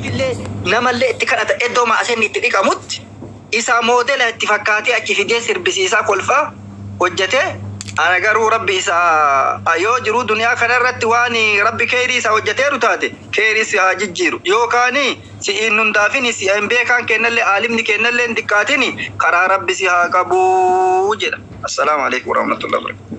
Illee namallee itti kadhata eddoo maaseenni itti dhiqamutti isaa moodela itti fakkaatee achi fidee sirbisiisaa kolfaa hojjatee ana garuu rabbi isa a yoo jiruu duniyaa kana irratti waan rabbi keeyrii isaa hojjateeru taate keeyrii si haa jijjiiru yoo kaani si iin nun daafini si iin beekaan keennallee aalimni keennallee hin diqqaatini karaa rabbi si haa qabuu jedha assalaamu aleykum warahmatullahi wabarakatuh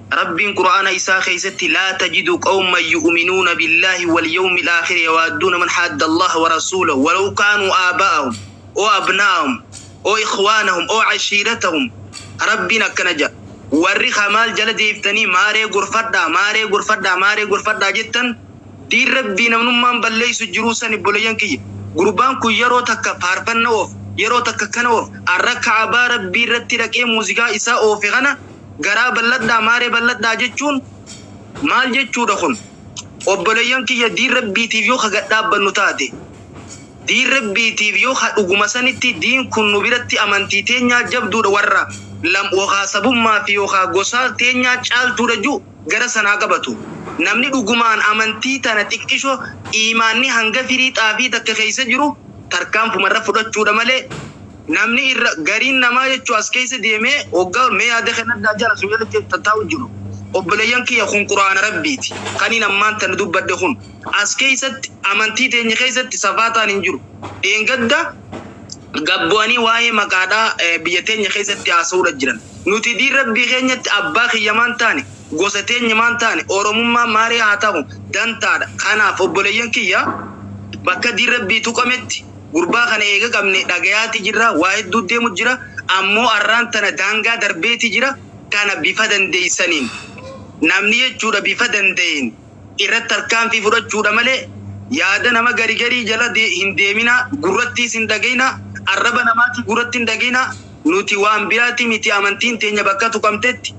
Rabbiin Qur'aana Isaa keessatti Laa tajidu qawman yu'uminuuna billaahi wal yawmil aakhiri yawaadduuna man haadda Allaha wa rasuulahu walaw kaanuu aaba'ahum ow abnaa'ahum ow ikhwaanahum ow ashiiratahum Rabbiin akkana ja'a Warri ka maal jala deebtanii maaree gorfadhaa maaree gorfadhaa maaree gorfadhaa jettan diin Rabbii namnummaan balleessu jiruu san ibboleeyyan kiyya gurbaan kun yeroo takka faarfanna oofa yeroo takka akkana oofa arra ka'abaa Rabbii irratti dhaqee muuziqaa isaa oofe kana Garaa bal'adhaa maaree bal'adhaa jechuun maal jechuudha kun? Obboleeyyan kiyya diin rabbiitiif yoo ka gadhaabbannu taate diin rabbiitiif yoo ka dhuguma sanitti diin kun nu biratti amantii teenyaa jabduudha warra lam yookaa sabummaa fi yookaa gosaa teenyaa caaltuudha ju gara sanaa qabatu. Namni dhugumaan amantii tana xiqqisho iimaanni hanga firii xaafii takka keessa jiru tarkaanfuma irra fudhachuudha malee Namni irra gariin namaa jechuu as keessa deemee hoggaa mee yaada kennadhaa jara sun jalatti tattaa'u jiru. Obboleeyyan kiyya kun Qur'aana Rabbiiti. Kaniin ammaan tana dubbadhe kun as keessatti amantii teenya keessatti safaataan hin jiru. Dheengadda gad bu'anii waa'ee maqaadhaa biyya teenya keessatti haasa'uudha jiran. Nuti diin Rabbii keenyatti abbaa kiyya maan taane Gosa teenya maan taane, Oromummaan maaree haa tahu, dantaa dha. Kanaaf obboleeyyan kiyya, bakka diin Rabbii tuqametti, gurbaa kana eega qabne dhagayaa ti jirra, waa hedduu deemu jira, ammoo arraan tana daangaa darbee ti jira, kana bifa dandeeysaniin, namni jechuu dha bifa dandayeen, irratti tarkaanfii fudhachuudha malee yaada nama gari garii jala de- hin deeminaa gurrattiis hin dhagayinaa arraba namaatii gurratti hin dhagayinaa nuti waan biraati miti amantiin teenya bakka tuqamtetti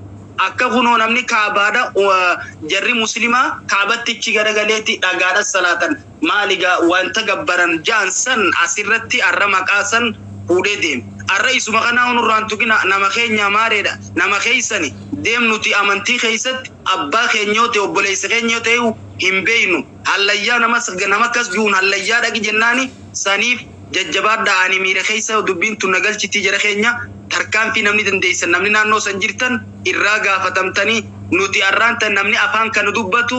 akka kunoo namni kaabaadha uh, jarri muslimaa kaabatti ichi garagaleeti dhagaadhas salaatan Maali egaa wanta gabbaran ja'an san as irratti arra maqaa san fuudhee deeme. Arra isuma kanaahu nurraa hin tuqinaa, nama keenyaa maaree dha, nama keessani, deem nuti amantii keessatti abbaa keenya yoo ta'e obboleessa keenya yoo ta'eehu hin beeknu, hallayyaa nama akkas ju'uun hallayyaa dhaqi jennaani saniif, jajjabaadhaa ani miira keessa dubbiin tun na galchitii jara keenya tarkaanfii namni dandeessan namni naannoo san jirtan irraa gaafatamtanii nuti arraan tan namni afaan kana dubbatu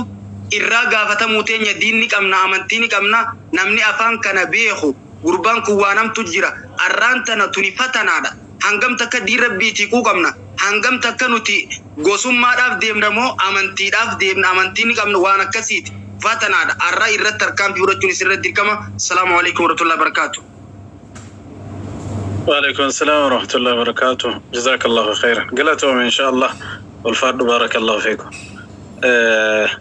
irraa gaafatamuu teenya diin ni qabna amantii ni qabna namni afaan kana beeku gurbaan kun waan hamtu jira arraan tana tuni fatanaadha Hangam takka diin Rabbiitii quuqamna? Hangam takka nuti gosummaadhaaf deemna moo amantiidhaaf deemna? Amantii ni qabna waan akkasiiti. Fatanaadha. Arra irratti tarkaanfii fudhachuun isin irratti dirqama. Assalaamu Aleykum Warahmatullahi Wabarakaatuh. Waaleykum Assalam Warahmatullahi Wabarakaatuh. Jazakallahu Kheyran. Galatoomi inshaa Allah. Ulfaadhu Barakallahu Fiikum.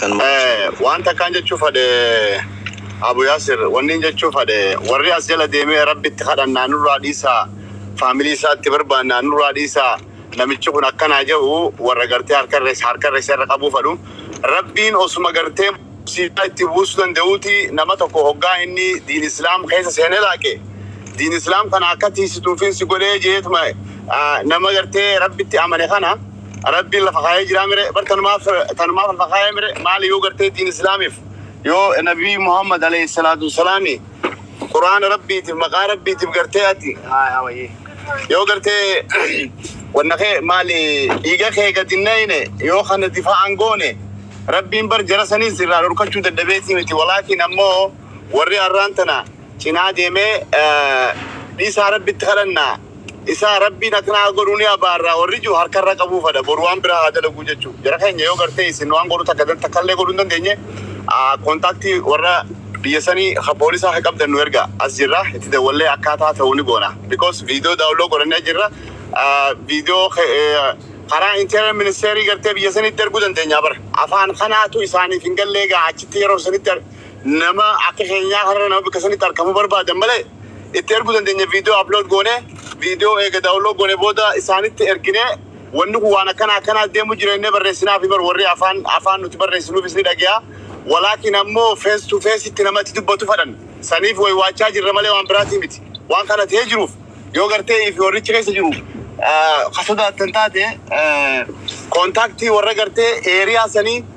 kan maqaa Eh, Yihowaa waan takkaan jechuu fadhe Abu Yaasir, wanni hin jechuu fadhe warri as jala deemee Rabbitti kadhannaa nurraa dhiisaa, faamilii isaa itti barbaannaa nurraa dhiisaa, namichi kun akkanaa ja'u warra gartee harka irra isa harka irra isa irra qabuu fadhu. Rabbiin osuma gartee musiibaa itti buusuu danda'uuti nama tokko hoggaa inni diin Islaam keessa seene laaqe diin Islaam kana akka tiisituufiin si godhee jeetuma ah, nama gartee Rabbitti amane kana Rabbiin lafa kaayee jiraa mire bar tanumaaf tanumaaf lafa kaayee mire maali yoo gartee diin islaamiif yoo nabii Muhammad alayhi salaatu wassalaami quraana rabbiitiif maqaa rabbiitiif gartee ati haa haa wayyii yoo gartee wanna kee maali dhiiga kee gadi nayne yoo kana difaa'an goone rabbiin bar jara saniis irraa dhorkachuu dadhabeetii miti walaakiin ammoo warri arraan tana cinaa deemee dhiisaa rabbitti kadhanna isaa rabbiin akkana haa godhu ni abaarra warri jiru harka irra qabuu fadha boru waan biraa haa dalaguu jechuu jara keenya yoo gartee isin waan godhu takka takka illee godhuu hin dandeenye kontaaktii warra biyya sanii ha poolisaa ha qabdan nu erga as jirra itti dawwallee akkaataa ta'u ni goona because viidiyoo daawunloo godhannee jirra viidiyoo karaa interior ministeerii gartee biyya sanitti erguu dandeenya bara afaan kanaatu isaaniif hin gallee gaa achitti yeroo sanitti Nama akka keenyaa kanarra nama bikka sanitti arkamu barbaadan malee itti ergu dandeenya video upload goone video eega download goone booda isaanitti ergine wanni kun waan akkana akkanaa deemu jira jennee barreessinaafi bar warri afaan afaan nuti barreessinuufis ni dhage'a walaakin ammoo face to face itti nama itti dubbatu fadhan saniif way waachaa jirra malee waan biraatii miti waan kana ta'ee jiruuf yoo gartee ifi warrichi keessa jiru ka sodaattan taate kontaaktii warra gartee eeriyaa sanii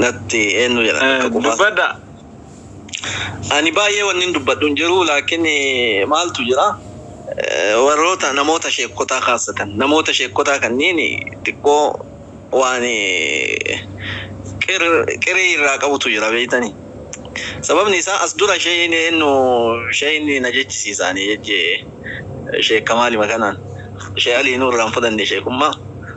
natti eenyu jedha akka Eh, qubaa dubbadha. ani baay'ee wannin dubbadhu hin jiru laakiin eh, maaltu jira eh, warroota namoota sheekkotaa kaasatan namoota sheekkotaa kanniin xiqqoo waan eh, qir, qirii irraa qabutu jira beeytanii sababni isaa as dura sheeyin eenyu sheeyin na jechisiisaanii jechee sheekka maalima kanaan shee alii nurraan fudhanne sheekummaa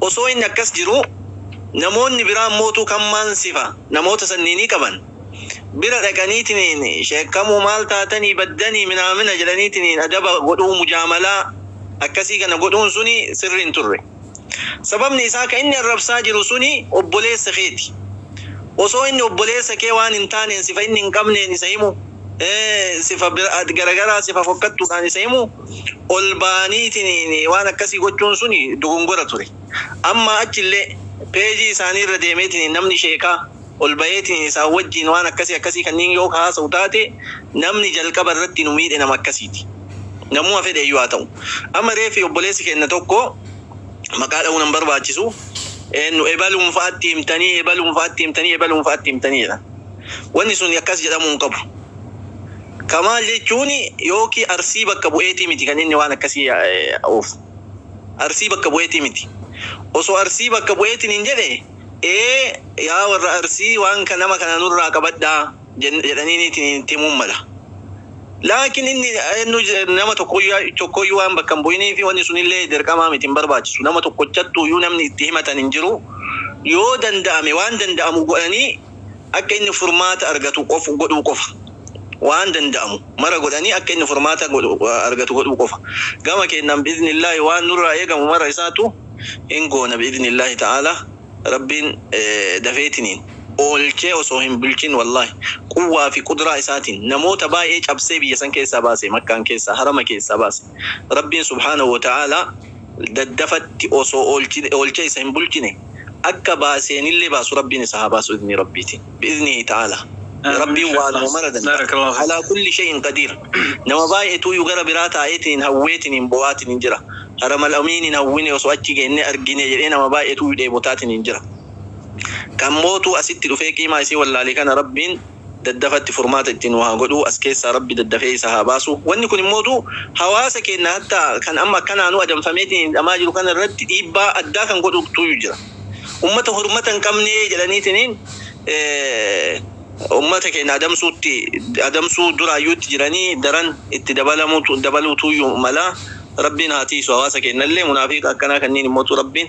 Osoo inni akkas jiruu, namoonni biraa ammootuu kammaan sifa namoota sanniinii qaban bira dhaqaniitiniin sheekkamuu maal taatanii baddanii minaamina jedhaniitiniin adaba godhuu mujaamalaa akkasii kana godhuun suni sirri hin turre. Sababni isaa ka inni arrabsaa jiru suni obboleessa keeti. Osoo inni obboleessa kee waan hin taaneen sifa inni hin qabneen isa himu, sifa garagaraa sifa fokkattuudhaan isa himu, ol ba'aniitiin waan akkasii gochuun suni dogongora ture. Ammaa achi illee page isaanii irra deemeetiin namni sheekaa ol ba'eetiin isaan wajjiin waan akkasii akkasii kanniin yoo ka haasa'u taate namni jalqaba irratti nu miidhe nama akkasiiti. Namuma fedhe iyyuu haa ta'u. Amma reeffi obboleessi keenna tokko maqaa dha'uun hin barbaachisu nu ebaluun fa'atti himtanii, ebaluun fa'atti himtanii, ebaluun fa'atti himtanii jedhan. Wanni suni akkas jedhamuu hin qabu. Kamaal jechuun yookiin Arsii bakka bu'eetii miti kan inni waan akkasii oofu. Arsii bakka bu'eetii miti. Osoo Arsii bakka bu'eetiin hin jedhe ee yaa warra Arsii waan kan nama kana nurraa qabadhaa jen- jedhaniiniitiin itti himuun mala. Laakiin inni eenyu je- nama tokkoyyuu tokkoyyuu waan bakka hin bu'inii fi wanni sunillee dirqamaa miti hin barbaachisu. Nama tokkochattuuyyuu namni itti himatan hin jiru. Yoo danda'ame waan danda'amu godhanii akka inni furmaata argatu qof godhuu qofa. Waan danda'amu mara godhanii akka inni furmaata godhu argatu godhuu qofa. Gama keennan bi'idhnillaahi waan nurraa eegamu mara isaatu hin goona bi'idhnillaahi ta'aalaa. Rabbiin dafeetiniin oolchee osoo hin bulchin wallaahi quwwaa fi qudraa isaatiin namoota baay'ee cabsee biyya san keessaa baase makkaan keessaa harama keessaa baase. Rabbiin subhaanahu wa ta'aalaa daddafatti osoo oolchee isa hin bulchine. akka baaseenillee baasu Rabbiin isa haa baasu idnii Rabbiitiin bi'idnihi ta'aalaa Rabbiin waanuma mara danda'a alaa kulli shay'in qadiir nama baay'etuuyyu gara biraa taa'eetiniin hawweetiniin boo'aatiniin jira haramal amiiniin hawwine osoo achi geenne argine jedhee nama baay'etuuyyu dheebotaatiniin jira kan mootuu asitti dhufee qiimaa isii wallaale kana Rabbiin daddafatti furmaata itti nuu haa godhuu as keessaa rabbi daddafee isa haa baasu wanni kun immootuu hawaasa keenna hatta kan amma akkanaanuu adamfameetiin hidhamaa jiru kana irratti dhiibbaa addaa kan godhutuuyyu jira ummata hurmata hin qabnee jedhaniitiniin ummata keenna adamsuutti adamsuu duraayyuu itti jiranii daran itti dabalamuutu dabaluutuuyyu mala rabbiin haa tiiysu hawaasa keennallee munaafiiqa akkanaa kanniin immootuu rabbiin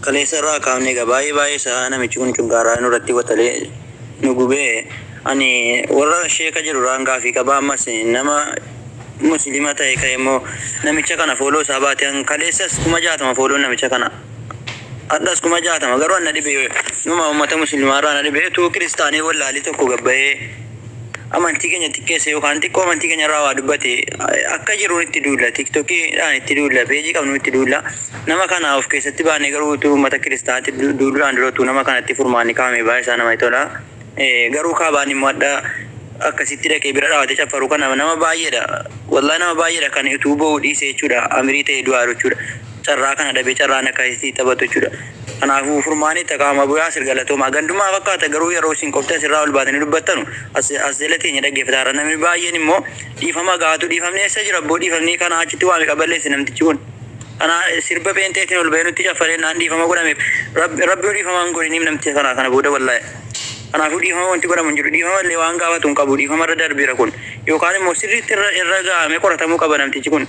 Kaleessa irraa kaafne egaa baay'ee baay'ee isaa namichi kun cunqaaraa nurratti watalee nu gubee ani warra sheeka jiru irraan gaafii qaba ammas nama muslima ta'e ka'e immoo namicha kana fooloo isaa baate an kaleessas kuma jaatama fooloon namicha kana hadhas kuma jaatama garuu an na dhibe numa ummata muslimaa irraa na dhibe tuu kiristaanee wallaalii tokko gabbayee amantii keenya xiqqeesse yookaan xiqqoo amantii keenya irraa waa dubbate akka jiruun itti duulla tiktokiidhaan itti duulla peejii qabnu itti duulla nama kana of keessatti baanee garuu utuu uummata kiristaanaatti du- duuluudhaan dura utuu nama kanatti furmaanni kaa'ame baay'ee isaa namatti tola Eh, garuu kaabaan immoo adda akkasitti dhaqee bira dhaawatee caffaru kana nama baay'eedha wallaa nama baay'eedha kan utuu boo'u dhiise jechuudha amirii ta'ee du'aa jiru jechuudha carraa kana dhabee carraan akka isii taphatu jechuudha. Kanaafuu furmaanii taqaama Abu Yaasir galatoomaa. Gandumaa fakkaata garuu yeroo isin qofti asirraa ol baatanii dubbattanu as as jala teenya dhaggeeffata har'a namni baay'een immoo dhiifama gaatu dhiifamni eessa jira abboo dhiifamni kanaa achitti waa meeqa balleesse namtichi kun. Kanaa sirba pheenxeetiin ol bahee nutti caffaree naan dhiifama godhameef rabbi rabbi yoo dhiifama hin godhiniif namticha kanaa kana booda wallahi. Kanaafuu dhiifama wanti godhamu hin jiru dhiifama illee waan gaafatu hin qabu dhiifama irra darbeera kun yookaan immoo sirriitti irra irra ga'amee qoratamuu qaba namtichi kun.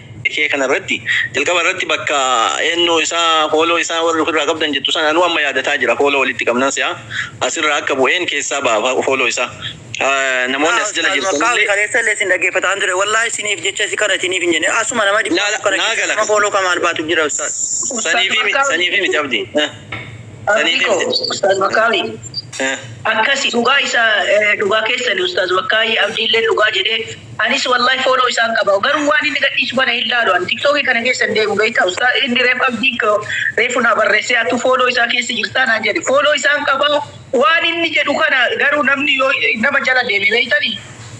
Dhikee kana irratti jalqaba irratti bakka eennoo isaa hooloo isaa warri ofirraa qabdan jettu sana anuu amma yaadataa jira hooloo walitti qabnan se'a as irraa akka bu'een keessaa ba'a hooloo isaa namoonni as jala jirtan illee. Yaa ustaaz wallahi kaleessa illee isin dhaggeeffataan ture wallahi isiniif jecha isi kana isiniif hin jenne asuma nama dhibba afur kana keessa nama hooloo kamaal baatu jira ustaaz. Saniifi miti abdi. Abdii koo Ustaaz Makkaawii akkasi dhugaa isa dhugaa keessani Ustaaz Makkaawii Abdiillee dhugaa jedhee anis wallahi fooloo isaan qaba garuu waan inni gadhiisu kana hin laalu an tiktookii kana keessa hin deemu beektaa Ustaaz inni reef Abdii koo reefu naa barreessee atu fooloo isaa keessa jirtaa naan jedhe fooloo isaan qaba waan inni jedhu kana garuu namni yoo nama jala deeme beektanii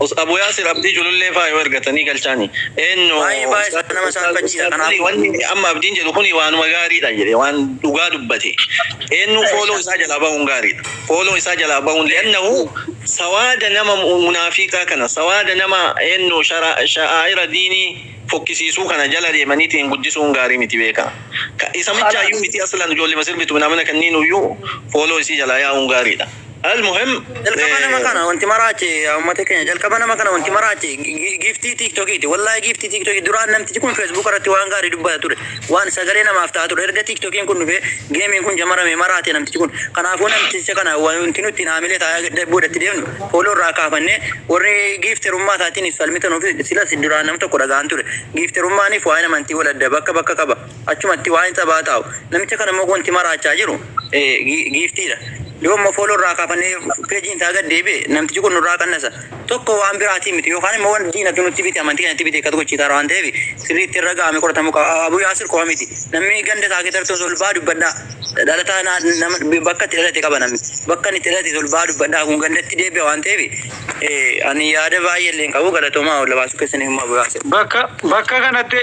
Us Abu Yasir Abdii Culullee faa yoo ergatanii galchaani eennu Baay'ee baay'ee Ustaaz nama Ustaaz saalfachiisa Ustaaz Alii kanaafuu. wanni amma Abdiin jedhu kuni waanuma gaariidha jedhe waan dhugaa dubbate eennu fooloo isaa jalaa bahuun gaariidha fooloo isaa jalaa bahuun li'annahu sawaada nama mu- munaafiiqaa kana sawaada nama eennu shara sha'aa'ira diinii fokkisiisuu kana jala deemaniitiin guddisuun gaarii miti beekaa Ka- isa michaayyuu miti aslan ijoollema sirbitu minaamina kanniinuyyuu fooloo isii jalaa yaa'uun gaariidha Almuhim jalqaba nama eh, kana wanti maraache yaa ummata keenya jalqaba nama kana wanti maraache gi- giiftii tiiktokiiti wallahi giiftii tiiktokii duraan namtichi kun feesbuuk irratti waan gaarii dubbata ture waan sagalee namaaf ta'a ture erga tiiktokiin kun dhufee geemiin kun jamarame maraate namtichi kun kanaafuu namticha kana wanti nutti hin haamilee taa'ee boodatti deemnu fooloo irraa kaafannee warri giifterummaa isaatiin falmitan ofii silas duraan nam tokko dhagaan ture giifterummaaniif waa'ee namantii wal adda bakka bakka qaba Achumatti waan sabaa taa'u. Namicha kana immoo wanti maraachaa jiru giiftiidha. Yoo immoo fooloo irraa kaafannee peejiin isaa gad deebi'e namtichi kun nurraa qannasa. Tokko waan biraatii miti yookaan immoo waan diinatu nutti bite amantii keenyatti bite akkas gochiisaara waan ta'eef sirriitti irra ga'amee qoratamuu qaba. Abuu Yaasir qofa miti. Namni ganda isaa keessatti osoo ol ba'aa dubbadhaa. Dhalataa naa- nama bakka itti dhalate qaba namni. Bakka inni itti dhalate ol ba'aa dubbadhaa kun gandatti deebi'a waan ta'eef eh, ani yaada baay'ee illee hin qabu galatoomaa ol baasuu keessaniif immoo Abuu Yaasir. Bakka bakka kanatti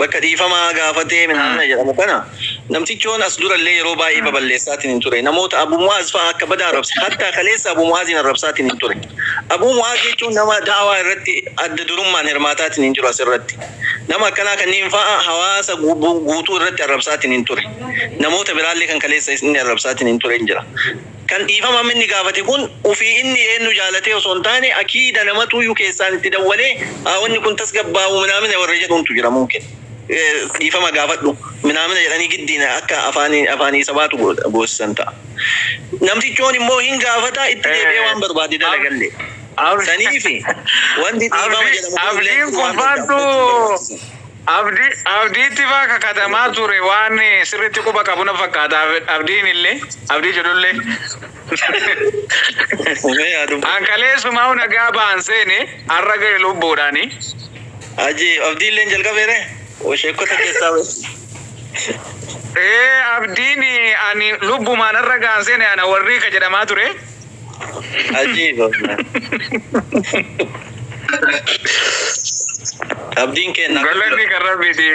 Bakka dhiifamaa gaafatee Minaamina jedhamu kana namtichoon as durallee yeroo baay'ee baballeessaatiin hin ture. Namoota Abu Mu'aaz fa'a akka badaa arrabse. Hattaa kaleessa Abu Mu'aaziin arrabsaatiin hin ture. Abu Mu'aaz jechuun nama da'awaa irratti adda durummaan hirmaataatiin hin jiru as irratti. Nama akkanaa kanniin fa'a hawaasa guutuu irratti arrabsaatiin hin ture. Namoota biraallee kan kaleessa inni arrabsaatiin hin ture hin jira. Kan dhiifama amma inni gaafate kun ufii inni eennu jaalatee osoo hin taane akiida namatuuyyu keessaan itti dawwalee haa wanni kun tasgabbaa'u minaamina warra jedhuntu jira mumkin dhiifama gaafadhu minaamina jedhanii giddiin akka afaanii afaanii sabaatu goosisan ta'a. Namtichoon immoo hin gaafata itti deebi'ee waan barbaade dalagalle. Saniifi wanti dhiifama jedhamu kun illee Abdiin kun fudhachuun waan faantu barbaachisa. Abdi, Abdiitti faa kakatamaa ture waan sirriitti quba qabu na fakkaata Abdiin illee, Abdii jedhullee. Mee yaa dubbu. An kaleessumaa nagaa ba'an seene har'a ga'e lubbuudhaani. Haji Abdii illee jalqabeere? Sheekkota keessaa ba'e. Ee Abdiin ani lubbumaan har'a ga'an seene ana warrii ka jedhamaa ture. Ajiiba. Abdiin keenya. Galanni kan rabbiiti.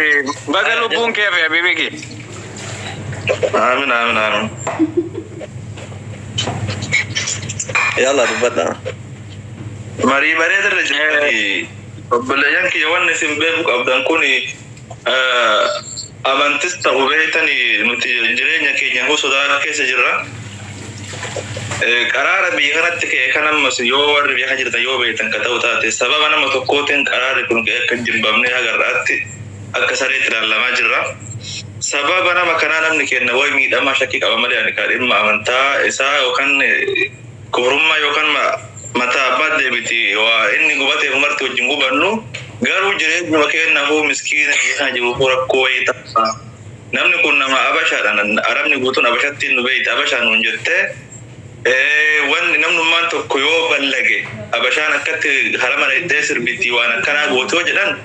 Baga lubbuun kee fi habiibi kee. Aamin aamin aamin. Yalla dubbadha. Marii bareedarra jirtanii obboleeyyan kiyya wanni isin beeku qabdan kuni Amantis ta'u beeytan nuti jireenya keenya huu sodaa keessa jirra. Qaraara biyya kanatti ka'e kan ammas yoo warri biyya kana jirtan yoo beeytan ka ta'u taate sababa nama tokkootiin qaraarri kun ka'e akka hin jibbamne haga har'aatti akka sareetti ilaalamaa jirra. Sababa nama kanaa namni keenna way miidhamaa shakkii qaba malee ani ka dhimma amantaa isaa yookaan Gubrummaa yookaan ma, mataa abbaat deebiti. Wa, inni gubateef marti wajjin gubannu, garuu jireenyuma keennafuu miskiina biyya kana jiruufuu rakkoo wayii ta'a. Namni kun nama Abashaadha, na, Arabni guutuun Abashattiin nu beeyta, Abashaa nuun jette. E, wanni namnummaan tokko yoo ballage, Abashaan akkatti hara mana hidhee sirbiti, waan akkanaa gooti yoo jedhan,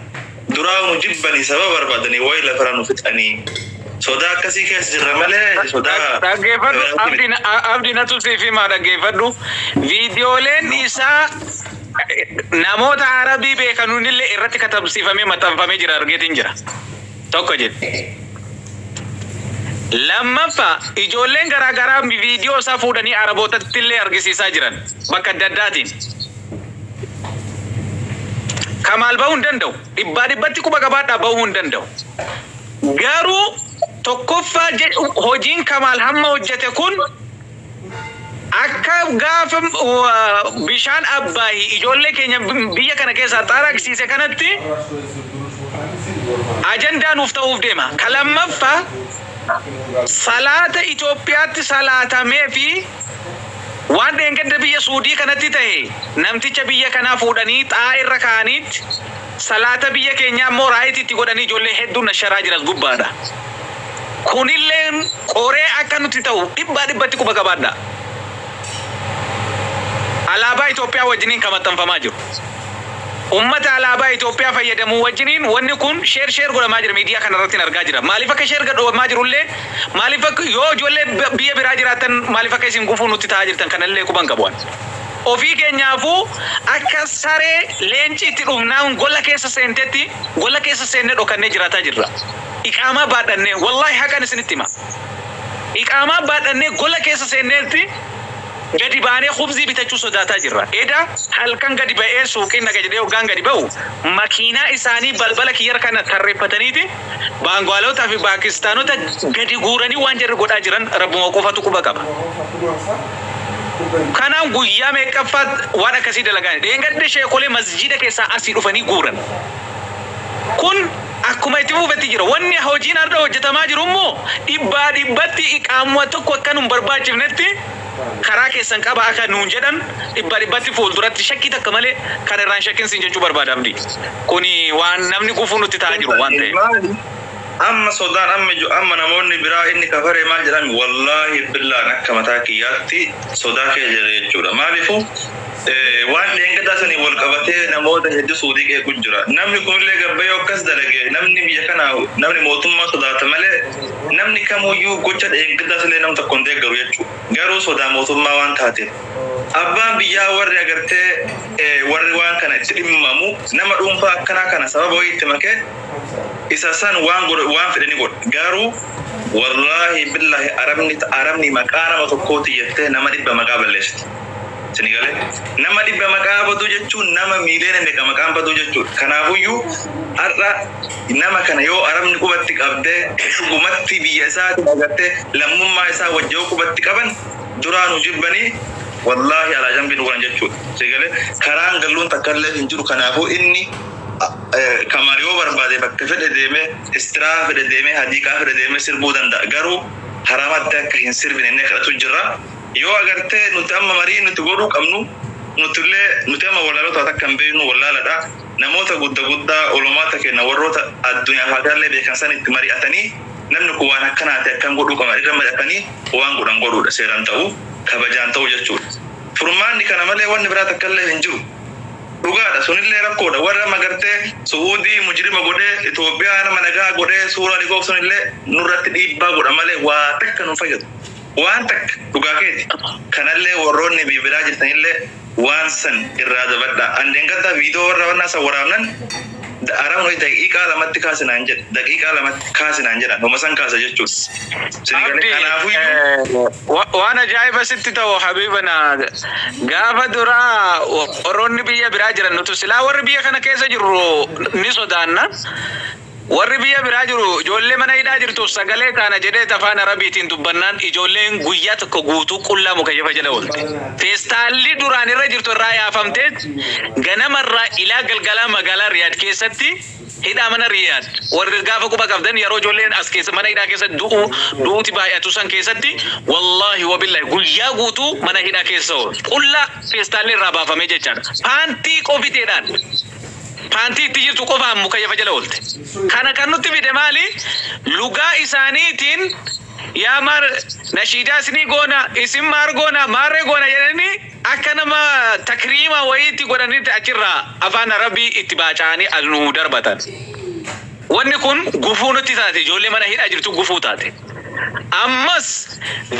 Duraa nu jibbani sababa barbaadani wayi lafara nu fixani. Sodaa akkasii keessa jirra malee sodaa Dhaggeeffadhu biraatii abdi miti. na- a- abdi natu siif himaa dhaggeeffadhu viidiyooleen isaa namoota arabii beekanuunillee irratti katabsiifamee maxxanfamee jira argeetiin jira tokko jedhe lammaffaa ijoolleen garaagaraa viidiyoo isaa fuudhanii arabootattillee argisiisaa jiran bakka adda addaatiin Kamaal bahuu hin danda'u. Dhibbaa dhibbatti quba qabaadhaa bahuu hin danda'u. Garuu tokkoffaa hojiin Kamaal hamma hojjete kun akka gaafa bishaan abbaahi ijoollee keenya biyya kana keessaa xaaraqsiise kanatti ajandaa nuuf ta'uuf deema. Ka lammaffaa salaata Itoophiyaatti salaatamee fi Waan dheengadda biyya Suudii kanatti tahe namticha biyya kanaa fuudhanii xaa irra kaa'aniitti salaata biyya keenyaa immoo right itti godhanii ijoollee hedduun nasharaa jira as gubbaadha. Kunilleen qoree akka nutti tahu dhibbaa dhibbatti quba qabaadhaa. Alaabaa Itoophiyaa wajjiniin ka maxxanfamaa jiru. Ummata alaabaa Itoophiyaa fayyadamu wajjiniin wanni kun share share godhamaa jira miidiyaa kana irrattin argaa jira. Maaliif akka share gadhobamaa jiru illee maaliif akka yoo ijoollee biyya biraa jiraattan maaliif akka isin gufuu nutti ta'aa jirtan kana illee quba hin qabu ani. Ofii keenyaafuu akka saree leenciitti dhumnaan gola keessa seentetti gola keessa seennee dhokannee jiraataa jirra. Iqaamaa baadhannee. Wallaahi haqan isinitti hima. Iqaamaa baadhannee gola keessa seenneetti. Gadi baanee khubzii bitachuu sodaataa jirra. Eda halkan gadi ba'ee suuqiin dhaqa jedhee hoggaan gadi ba'u makiinaa isaanii balbala kiyyarra tarreeffataniiti Baangaalota fi Paakistaanota gadi guuranii waan jarri godhaa jiran Rabbuma qofatu quba qaba. Kanaan guyyaa meeqqaffaat waan akkasii dalagaani. Dheengadda sheekolee masjiida keessaa asii dhufanii guuran. Kun akkuma itti fufetti jira. Wanni hojiin hardha hojjetamaa jiru immoo dhibbaa dhibbatti qaamuma tokko akka nun barbaachifnetti karaa keessan qaba akka nuun jedhan dhibbaa dhibbatti fuulduratti shakkii takka malee kan irraa hin shakkin siin jechuu barbaada Abdii. Kuni waan namni gufuu nutti ta'aa Kun jiru waan ta'eef. maali? Amma sodaan amma jiu amma namoonni biraa inni kafaree maal jedhaan wallaahi billaa an akka mataa kiyyaatti sodaa keessa jira jechuudha maalifu waan dheengadaa sanii wal qabatee namoota hedduu suudii qeequ jira namni kunillee gabbee yoo akkas dalage namni biyya kanaa namni mootummaa sodaata malee namni kamuyyuu gocha dheengadaa sillee nam tokko hin deeggaru jechuu garuu sodaa mootummaa waan taate abbaan biyyaa warri agartee warri waan kana itti dhimmamu nama dhuunfaa akkanaa kana sababa wayii itti makee isa san waan godhu waan fedhe ni godha garuu wallahi billahi arabni arabni maqaa nama tokkooti jettee nama dhibba maqaa balleessiti sini galee nama dhibba maqaa baduu jechuun nama miiliyoona meeqa maqaan baduu jechuudha kanaafuyyuu har'a nama kana yoo arabni qubatti qabdee dhugumatti biyya isaati agartee lammummaa isaa wajji yoo qubatti qaban duraa nu jibbanii wallahi alaa jambii nu godhan jechuudha sini galee karaan galluun takkallee hin jiru kanaafuu inni Kamal yoo barbaade bakka fedhe deemee istirahaa fedhe deemee hadiiqaa fedhe deemee sirbuu danda'a garuu haramatti akka hin sirbine inni kadhatu jirra yoo agartee nuti amma marii nuti godhuu qabnu nutillee nuti amma wallaalota waa takka hin beeknu wallaaladha namoota gudda guddaa olomaata kenna warroota addunyaaf akirallee beekan sanitti mari'atanii namni kun waan akkanaati akkan godhuu qabna irra mari'atanii waan godhan godhuudha seeran ta'u kabajaan ta'u jechuudha furmaanni kana malee wanni biraa takkallee hin jiru Dhugaadha sunillee rakkoodha warri amma gartee su'uudii mujrima godhee Itoophiyaa nama nagaa godhee suuraa ni koobsan illee nurratti dhiibbaa godha malee waa takka nun fayyadu waan takka dhugaa keeti kanallee warroonni bibiraa jirtanillee waan san irraa dabadhaa an dheengaddaa viidoo warra wannaa san waraabnan Daaraan wayii daqiiqaa lamatti kaasi naan jedhe. Daqiiqaa lamatti kaasi naan jedhan. Homa san kaasa jechuudha. Sini galee Abdi kanaafuyyuu eh, wa- waan ajaa'iba sitti ta'u habibana gaafa duraa wa- warroonni biyya biraa jiran nutu silaa warri biyya kana keessa jirru ni sodaanna warri biyya biraa jiru ijoollee mana hidhaa jirtuuf sagalee taana jedhee afaan arabiitiin dubbannaan ijoolleen guyyaa tokko guutuu qullaa mukayyafa jala oolte feestaalli duraan irra jirtu irraa yaafamtee Ganama irraa ilaa galgalaa magaalaa Riyaad keessatti hidhaa mana Riyaad warri gaafa quba qabdan yaroo ijoolleen as keessa mana hidhaa keessa du'uu du'uuti baay'atu san keessatti wallaahi wabillaahi guyyaa guutuu mana hidhaa keessa oolu qullaa feestaalli irraa baafamee jechaadha paantii qofiteedhaan paantii itti jirtu qofaan mukayyafa jala oolte kana kan nutti fide maali lugaa isaaniitiin yaa maar nashiidaa isinii goona isin maar goona maarree goona jedhanii Akka nama takriima wayiitti godhanitti achirraa Afaan Arabii itti baaca'anii as nu darbatan. Wanni kun gufuu nutti taate, ijoollee mana hidhaa jirtu gufuu taate. Ammas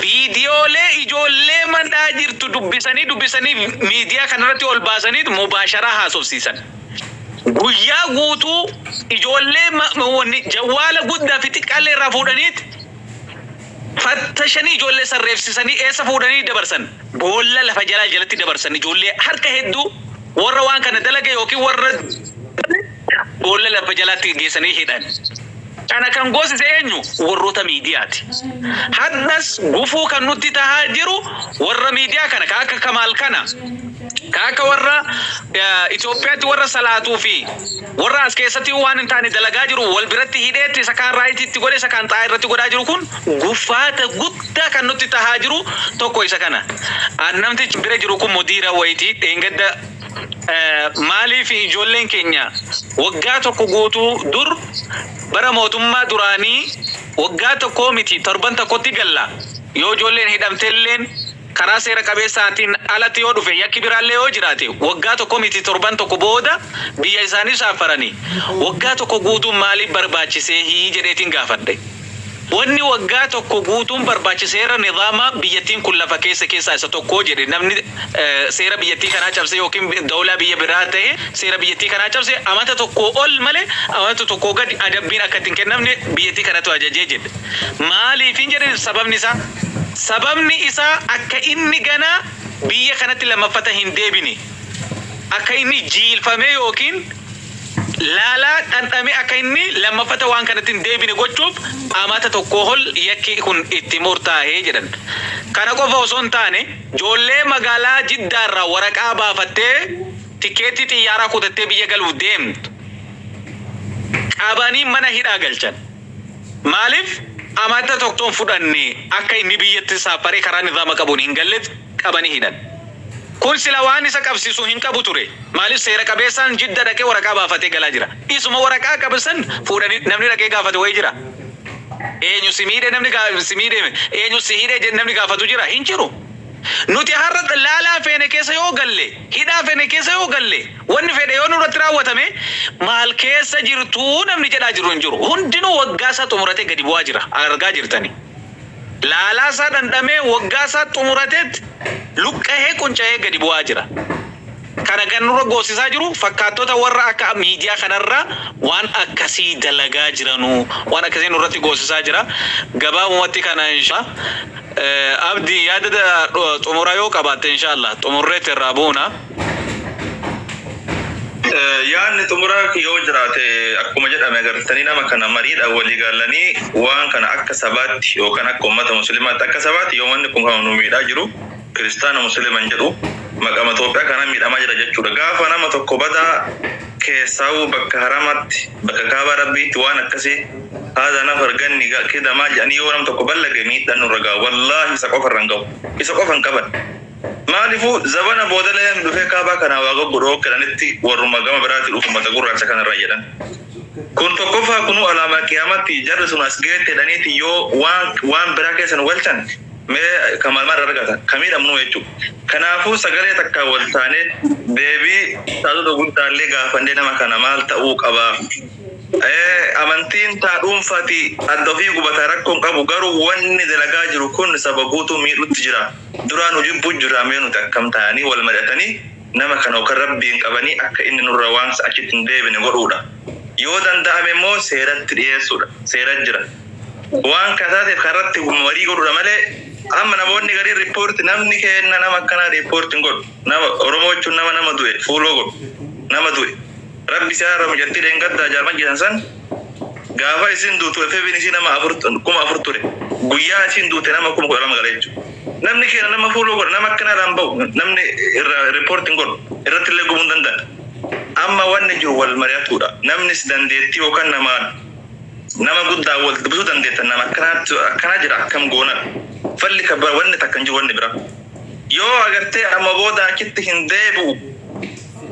viidiyoolee ijoollee mandhaa jirtu dubbisanii dubbisanii miidiyaa kanarratti ol baasaniit mubaasharaa haasofsiisan. Guyyaa guutuu ijoollee jawwaala guddaa fi xiqqaallee irraa fuudhaniit, fattashanii ijoollee san reebsisanii eessa fuudhanii dabarsan? Boolla lafa jalaa jalatti dabarsan ijoollee harka hedduu warra waan kana dalage yookiin warra boolla lafa jalaatti geessanii hidhan. Kana kan goosise eenyu? Warroota miidiyaati. Hadhas gufuu kan nutti tahaa jiru warra miidiyaa kana ka akka Kamaal kana. Ka akka warra Itoophiyaatti warra salaatuu fi warra as keessatti waan hin taane dalagaa jiru wal biratti hidheetti isa kaan raayitii itti godhe isa kaan xaa'aa irratti godhaa jiru kun gufaata guddaa kan nutti tahaa jiru tokko isa kana. An namtichi bira jiru kun mudiira wayitii dheengadda maaliif ijoolleen keenya waggaa tokko guutuu dur bara mootummaa duraanii waggaa tokkoo miti torban tokkotti galla yoo ijoolleen hidhamtelleen Karaa seera qabeessaatiin alatti yoo dhufe yakki biraallee yoo jiraate waggaa tokko miti torban tokko booda biyya isaanii shaaffarani. Waggaa tokko guutuun maaliif barbaachiseehi jedheetiin gaafadhe. Wanni waggaa tokko guutuun barbaache seera nizaama biyyattiin kun lafa keesse keessaa isa tokko jedhe namni seera biyyattii kanaa cabse ykn dawlaa biyya biraa tahe seera biyyattii kanaa cabse amata tokkoo ol malee amata tokkoo gadi adabbiin akka itti hin kennamne biyyattii kanatu ajaje jedhe. Maaliifiin jedhe sababni isaa. Sababni isaa akka inni ganaa biyya kanatti lammaffata hin deebine, akka inni jiilfamee ykn laalaa dhandhamee akka inni lammaffata waan kanatti hin deebine gochuuf amata tokkoo ol yakki kun itti murtaahe jedhan. Kana qofa osoo hin taane joollee magaalaa Jiddaa irraa waraqaa baafattee tikeettii xiyyaaraa kutattee biyya galuuf deemtu qabanii mana hidhaa galchan. Maaliif amadda tokkton fudhanne akka inni biyyatti saapharee karaa nizaama qabuun hin gallet qabani hidhan. Kun sila waan isa qabsisu hin qabu ture. Maaliif seera qabeessaan jidda dhaqee waraqaa baafatee galaa jira. Isuma waraqaa qabe san fuudhani namni dhaqee gaafate wayi jira? Eenyu si miidhe namni si miidhe eenyu si hidhe jedhe namni gaafatu jira? Hin jiru. Nuti har'a laalaa feene keessa yoo galle, hidhaa fene keessa yoo galle, Wanni fedhe yoo nurratti raawwatame maal keessa jirtu namni jedhaa jiru hin jiru. Hundinuu waggaa isaa xumuratee gadi bu'aa jira. Argaa jirtani. Laalaa isaa dhandhamee waggaa isaa xumurateet luqqahee qunca'ee gadi bu'aa jira. Kana kan nurra goosisaa jiru fakkaattota warra akka miidiyaa kanarra waan akkasii dalagaa jiranu waan akkasii nurratti goosisaa jira. Gabaabumatti kana inshaa'allaah. Abdi yaada xumuraa yoo qabaatte inshaa'allaah xumurreet irraa buuna. Yaanni xumuraa yoo jiraate akkuma jedhame agartanii nama kana mariidhaan walii gaalanii waan kana akka sabaatti yookaan akka uummata musliimaatti akka sabaatti yoo wanni kun kan nu miidhaa jiru kiristaana musliiman jedhu maqama Itoophiyaa kana miidhamaa jira jechuudha. Gaafa nama tokko badaa keessaa'uu bakka haramaatti bakka kaabaa rabbiitti waan akkasii haadha nafar ganni kidamaa jedhanii yoo nam tokko ballage miidhaan nurra ga'a wallaahi isa qofa irra hin ga'u isa qofa hin qaban Maalifu zabana booda layan dhufee kaabaa kanaa waa goggu dhoo kenanitti warruma gama biraati dhufu mata gurraacha kana irraa jedhan. Kun tokkoffaa kunuu alaamaa qiyaamatti jarri sun as geette jedhaniiti yoo waan waan biraa keessa nu galchan mee kamaal maal argata ka miidhamnuu jechu. Kanaafuu sagalee takkaan wal taanee deebii ustaazota guddaallee gaafannee nama kana maal ta'uu qaba amantiin taa dhuunfaati adda ofii gubataa rakkoon qabu garuu wanni dalagaa jiru kun saba guutuu miidhutti jira. Duraa nu jibbuu jiraa mee nuti akkam taananii wal mari'atanii nama kana yookan rabbiin qabanii akka inni nurra waamsa achitti hin deebine godhuudha. Yoo danda'ame immoo seeratti dhiyeessuudha. Seera jira. Waan kana taateef kana irratti marii godhuudha malee amma namoonni gariin report namni keenna nama akkanaa report hin godhu. Nama Oromoo jechuun nama nama du'e fuuloo godhu. Nama du'e. Rabbi si haaramu jatti dhengaddaa jaarman jetan san gaafa isin duutu FBn isii nama afur kuma afur ture guyyaa isiin duute nama kuma kudha lama gala jechu namni keena nama fuuloo godha nama akkana irraan ba'u namni irra report hin godhu irratti illee gubuu hin danda'a amma wanni jiru wal mari'atuudha namnis dandeettii yookaan namaan nama guddaa wal dubbisuu dandeettan nama akkanaatti akkana jira akkam goona falli ka bara wanni takka hin jiru wanni bira yoo agartee amma booda achitti hin deebi'u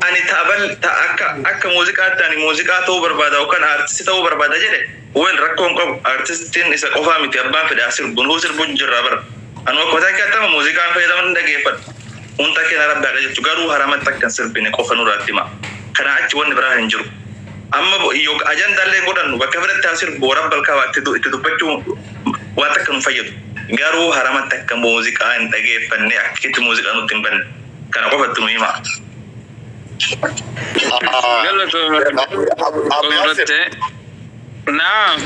Ani ta bal ta akka akka muuziqaatti ani muuziqaa ta'uu barbaada yookaan aartisti ta'uu barbaada jedhe well rakkoo hin qabu aartistiin isa qofaa miti abbaan fedhe haa sirbu nuu sirbu jirra bara anu akka mataa kee attama muuziqaan fayyadama hin dhageeffadhu hunta keena rabbi haa qajeelchu garuu haramatti akka hin sirbine qofa nurraatti hima kana achi wanni biraa hin jiru amma yok ajanda illee godhannu bakka fedhetti haa sirbu warabbal kaaba itti du- itti dubbachuu waan takka nu fayyadu garuu haramatti akka muuziqaa hin dhageeffanne akka itti muuziqaa nutti hin banne Kana qofatti nu hima. Naam.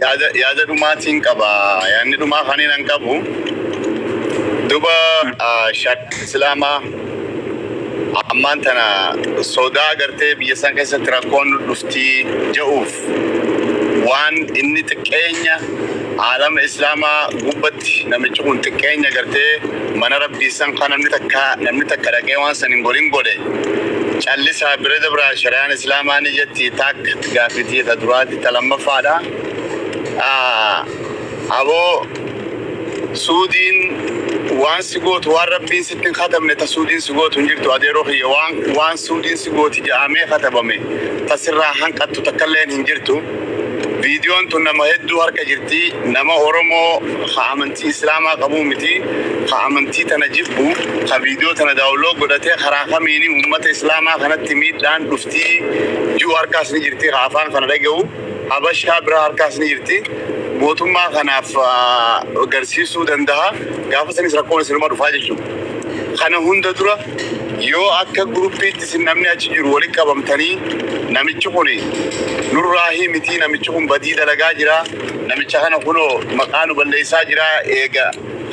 Yaada yaada dhumaatiin qaba. Yaadni dhumaa kan hin qabu. Duba shak islaamaa ammaan tana sodaa agartee biyya san keessatti rakkoon dhuftii ja'uuf waan inni xiqqeenya aalama islaamaa gubbatti namichi kun xiqqeenya gartee mana rabbii san ka namni takka namni takka dhaqee waan san hin godhin godhe callisaa bira dabraa shariyaan islaamaa ni jetti taakka gaafitii ta duraati ta lammaffaadha aboo Suudiin waan si gootu waan rabbiin sitti hin katabne ta suudiin si gootu hin jirtu adeeroo kiyya waan waan suudiin si gooti ja'amee katabame ta sirraa hanqattu takkalleen hin jirtu viidiyoon tun nama hedduu harka jirti nama oromoo ka amantii islaamaa qabuu miti ka amantii tana jibbu ka viidiyoo tana daawuloo godhatee karaa kamiini ummata islaamaa kanatti miidhaan dhuftii ji'u harkaas ni jirti ka afaan kana dhaga'u Habashaa biraa harkaas ni jirti. Mootummaa kanaaf garsiisuu danda'a. Gaafa sanis rakkoon isinuma dhufaa jechuudha. Kana hunda dura yoo akka guruppiitti isin namni achi jiru walitti qabamtanii namichi kun nurraa hii mitii namichi kun badii dalagaa jira namicha kana kunoo maqaa nu balleessaa jira eega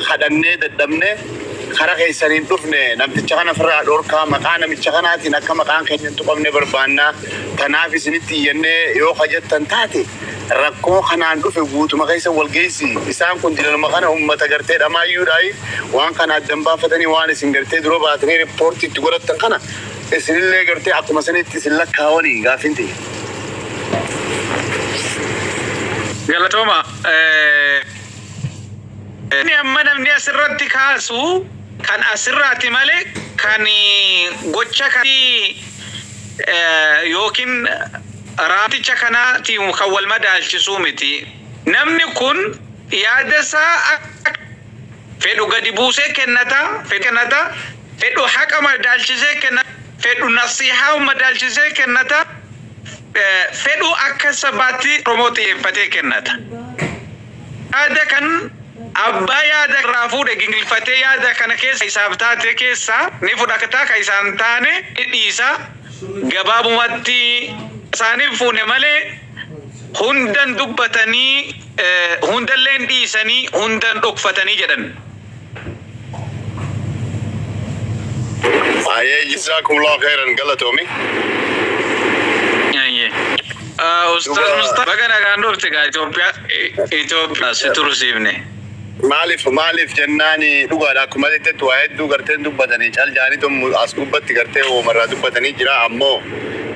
kadhannee dadhabne kara keessaniin dhufne namticha kana firraa dhorkaa maqaa namicha kanaatiin akka maqaan keenya hin tuqamne barbaannaa Tanaaf isinitti iyyanne yoo ka jettan taate, rakkoo kanaan dhufe guutuma keessan wal geessi. Isaan kun dilanuma kana ummata gartee dhamaayyuudhaayi waan kana addan baafatanii waan isin gartee dura baatanii report itti godhattan kana isinillee gartee akkuma sanitti isin lakkaawanii? Gaaffiin tiyya. Galatoomaa. Inni amma namni asirratti kaasu kan asirraati malee kan gocha kan eh, yookiin raamticha kanaatiin kan wal madaalchisuu miti. Namni kun yaada isaa akka fedhu gadi buusee kennata, fedhu kennata, fedhu haqa madaalchisee kennata, fedhu nasihaa madaalchisee kennata, eh, fedhu akka sabaatti Oromoo xiyyeeffatee kennata. Yaada kan abbaa yaada irraa fuudhe gingilfatee yaada kana keessa isaaf taate keessaa ni fudhata kan isaa hin taane ni dhiisa. Gabaabumatti isaaniif fuune malee hundan dubbatanii hundalleen dhiisanii hundan dhokfatanii jedhan. Ayee jizaakumullahu khairan galatoomi. Ayyee. Ah, Ustaz Dhugaa- Mustafa baga nagaan dhufte gaa Itoophiyaa Itoophiyaa si tursiifne. Maaliif maaliif jennaani dhugaadha akkuma jettetti waa hedduu garteen dubbatanii cal jaanii tun as gubbatti gartee uumarraa dubbatanii jira ammoo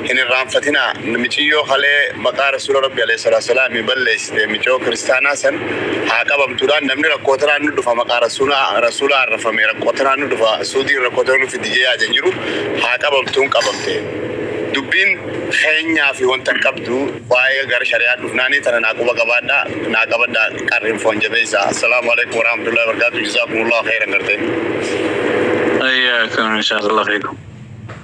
Hin irraanfatinaa miciyyoo kalee maqaa rasuula rabbi aleyh salaat salaami balleessite miciyoo kiristaanaa san haa qabamtuudhaan namni rakkoo tanaan nu dhufa maqaa rasuulaa rasuulaa arrafame rakkoo tanaan nu dhufa suudiin rakkoo tana nu fiddi jee yaadan jiru haa qabamtuun qabamte dubbiin keenyaa fi wanta hin qabdu waa'ee gara shari'aa dhufnaanii tana naa quba qabaadha naa qabadha qarrin foon jabeessa assalaamu aleykum warahmatullahi wabarakaatu jazaakumullahu khayran gartee Ayyakum inshallah fikum.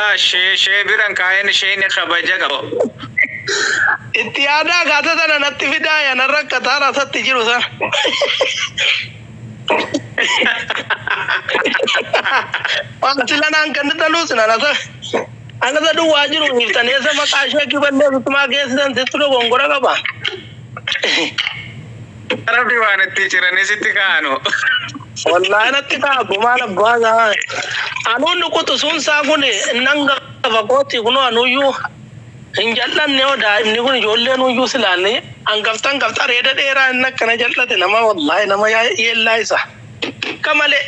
Yaa shee shee biran kaayin sheeyni kabaja qaba. Itti yaadaa kaata sana natti fidaa yana rakkataa rasatti jiru sana. Faasila naan kennitanuu sina nasa. Anasa duwwaa jiru hiiftan eessa maqaa sheekii balleessutumaa geessisan sittu dogongora qaba. Rabbi waan itti ciranii sitti kaanu. Wallahi natti ta'a gumaan abbaa isaa. Anuu inni quxusuun isaa kun nan gafa kooti kunoo anuyyuu hin jal'anne yoo daa'imni kun ijoolleen uyyuu silaanne hangafta hangafta reeda dheeraa inni akkana jal'ate nama wallahi nama yaa- yeellaa isa. Akka malee.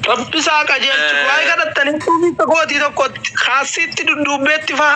Rabbi isaa qajeelchu. Waa'ee kadhattanii duubiitti kootii tokkotti kaassiitti dudduubbeetti faa.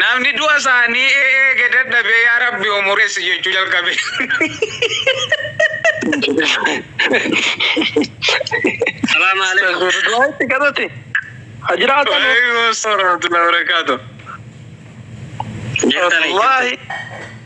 Namni du'a isaanii eege dadhabee yaa rabbi umureessi jechuu jalqabe. Salaam alaikum. Du'a itti kadhate. Ha jiraatan. Waalaikum assalam warahmatullahi wabarakatuh. Jettanii. Wallaahi.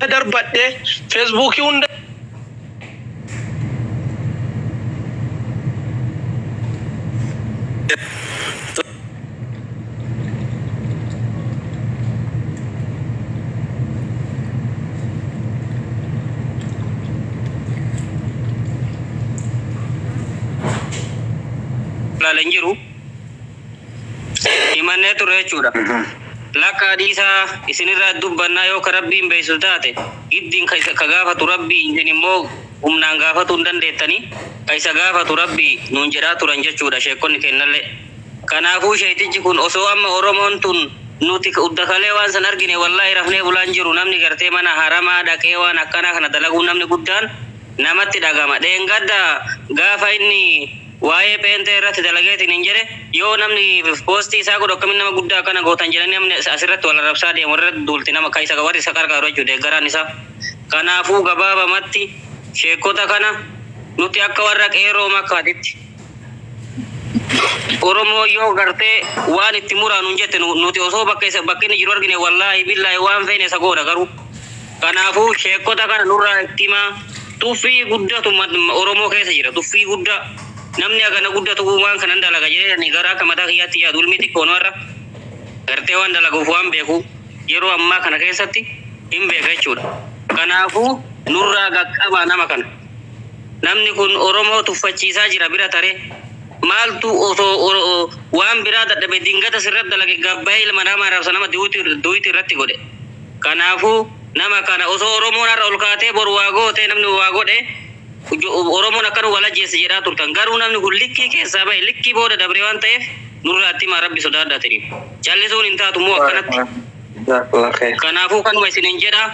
Bira darbadhe Facebook hunda. ilaalan jiru. himannee turre jechuudha. Lakkaa dhiisaa isinirraa dubbannaa yoo ka Rabbiin beeysu taate giddiin ka isa ka gaafatu Rabbii isin immoo humnaan gaafatuu hin dandeettanii ka isa gaafatu Rabbii nuun jedhaa turan jechuudha sheekkonni keennallee. Kanaafuu sheeytichi kun osoo amma Oromoon tun nuti udda kalee waan san argine wallaahi rafnee bulaa hin jiru namni gartee mana haramaa dhaqee waan akkanaa kana dalaguun namni guddaan namatti dhagahama. Dheengadda gaafa inni Waa'ee pheenxee irratti dalageetiin hin jedhe yoo namni poostii isaa godhu akkamiin nama guddaa akkana gootan jedhanii namni asirratti wal arrabsaa deemu irratti duulti nama ka isa warri isa qarqaaru jechuudha deeggaraan isaa. Kanaafuu gabaabamatti sheekkota kana nuti akka warra qeerroo makkaatitti Oromoo yoo gartee waan itti muraa nun jette nu- nuti osoo bakka isa bakka inni jiru argine wallaahi billaahi waan feene isa goona garuu Kanaafuu sheekkota kana nurraa itti himaa. Tuffii guddatu Oromoo keessa jira. Tuffii guddaa. Namni hagana guddatu uumaan kanan dalaga jedhee ani gara akka mataa kiyyaatti yaadu ilmi xiqqoon har'a gartee waan dalaguuf waan beeku yeroo ammaa kana keessatti hin beeka jechuudha. Kanaafuu nurraa qaqqabaa nama kana. Namni kun Oromoo tuffachiisaa jira bira taree. Maaltu osoo waan biraa dadhabe dingata sirratti dalage gabbaa'ee ilma namaa arrabsa nama duuti irratti godhe. Kanaafuu, nama kana osoo Oromoon har'a ol kaatee boru waa gootee namni waa godhe Oromoon akka nu wal ajjeesse jedhaa turtan. Garuu namni kun likkii keessaa bahe, likkii booda dabre waan ta'eef nurraa itti himaa Rabbi sodaadhaa tiniif. Callisuun hin taatu moo akkanatti? Jazakallah khair. Kanaafuu kanuma isiniin jedha.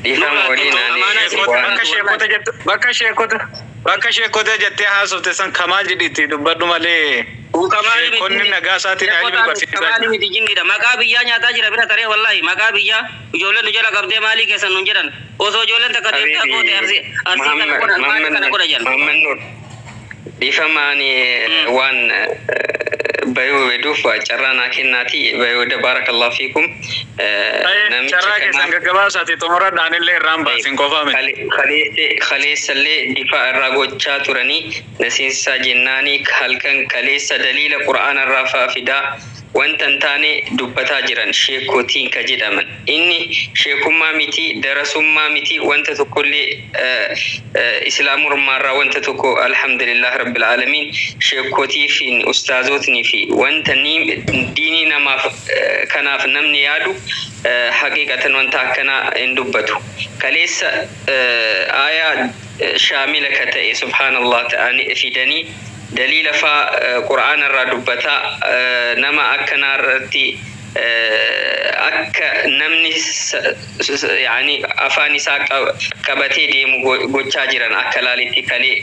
Dhiifama Nurraa waliin tokko ani amaanaa isin Sheekota, bakka sheekota jettu, bakka sheekota. Bakka sheekkotee jettee haasofte san kamaal jedhi itti dubbadhu malee sheekkonni nagaasaatiin haa jedhu barsiisaa jira. Kamaali miti jinniidha maqaa biyyaa nyaataa jira bira taree wallahi maqaa biyyaa ijoolleen nu jala qabdee maalii keessan nun jedhan osoo ijoolleen takka deemtee Habiibi abboote arsii arsii kana Muhammad godha maalii kana godha jedhan. Muhammad Nur dhiifama ani waan bayuu beduuf carraa naa kennaatii bayuu da baarakallahu fiikum. Aye, Namicha carraa keessan kanaaf- gaggabaasaati xumuradha anillee irraan baasin qofaa miti. Kale- kaleesse- kaleessallee difaa irraa gochaa turanii na seensisaa jennaani halkan kaleessa daliila qur'aana irraa faa fidaa wanta hin taane dubbataa jiran sheekko tiinka jedhaman inni sheekummaa miti darasummaa miti wanta tokkollee eh, eh, islaamurmaa irraa wanta tokko alhamdulillah rabbil aalamiin sheekkotii fi ustaazootni fi wanta ni diinii namaaf Kanaaf namni yaadu haqiiqatan wanta akkanaa hin dubbatu. Kaleessa aayaa shaamila ka ta'e subhaanallaah ta'anii fidanii daliila faa qur'aana irraa dubbataa nama akkanaa irratti akka namni afaan isaa qabatee deemu gochaa jiran akka laalitti kalee.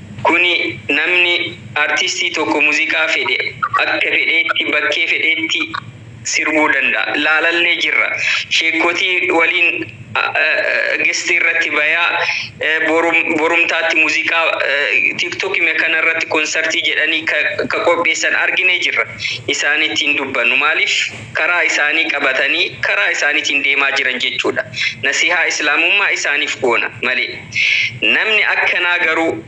Kuni namni, artistii tokko muziqaa fedhe akka fedheetti bakkee fedheetti sirbuu danda'a. Laalallee jirra. Sheekkotii waliin guest irratti bayaa borumtaatti muziqaa tiktok me kana irratti konsartii jedhanii ka ka qopheessan arginee jirra. Isaanitti hin dubbannu. Maaliif karaa isaanii qabatanii karaa isaaniitiin deemaa jiran jechuudha. Nasihaa islaamummaa isaaniif goona malee. Namni akkanaa garuu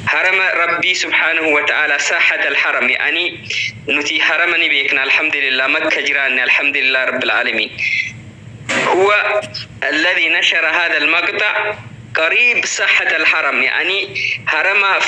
Harama Rabbii subhaanahu wa ta'aalaa, Saahatal Haram, ya'anii nuti Harama ni beekna Alhamdulillah, Makka jiraanne Alhamdulillah Rabbil Aalamiin. Huwa alladhi nashara haadhal maqta, Qariib Saahatal Haram, ya'anii Haramaaf,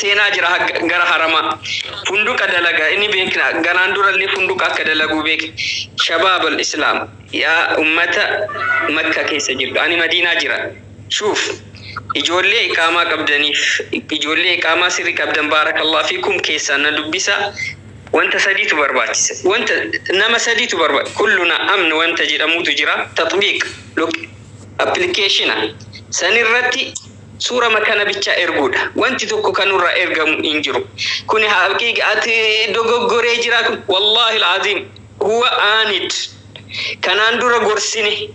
seenaa jira hagga gara haramaa funduqa dalaga ini beekna ganaan durallee funduqa akka dalaguu beekna shabaab al islaam yaa ummata makka keessa jirtu ani madiinaa jira shuuf ijoollee iqaamaa qabdaniif ijoollee iqaamaa sirri qabdan baarakallah fiikum keessaan na dubbisa wanta sadiitu barbaachisa wanta nama sadiitu barba kulluna amn wanta jedhamuutu jira tatbiiq lok appilikeeshina sanirratti Suurama kana bicha erguudha. Wanti tokko ka nurra ergamu hin jiru. Kuni haqiiqa ati dogoggoree jira kun wallahi alazim huwa aanid kanaan dura gorsine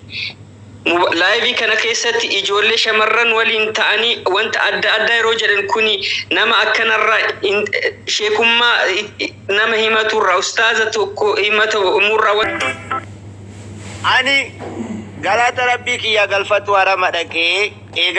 live kana keessatti ijoollee shamarran waliin ta'anii wanta adda addaa yeroo jedhan kuni nama akkanarra sheekummaa nama himaturra ustaaza tokko himata umurra wanta Ani galata rabbii kiyya galfatu harama dhaqee eega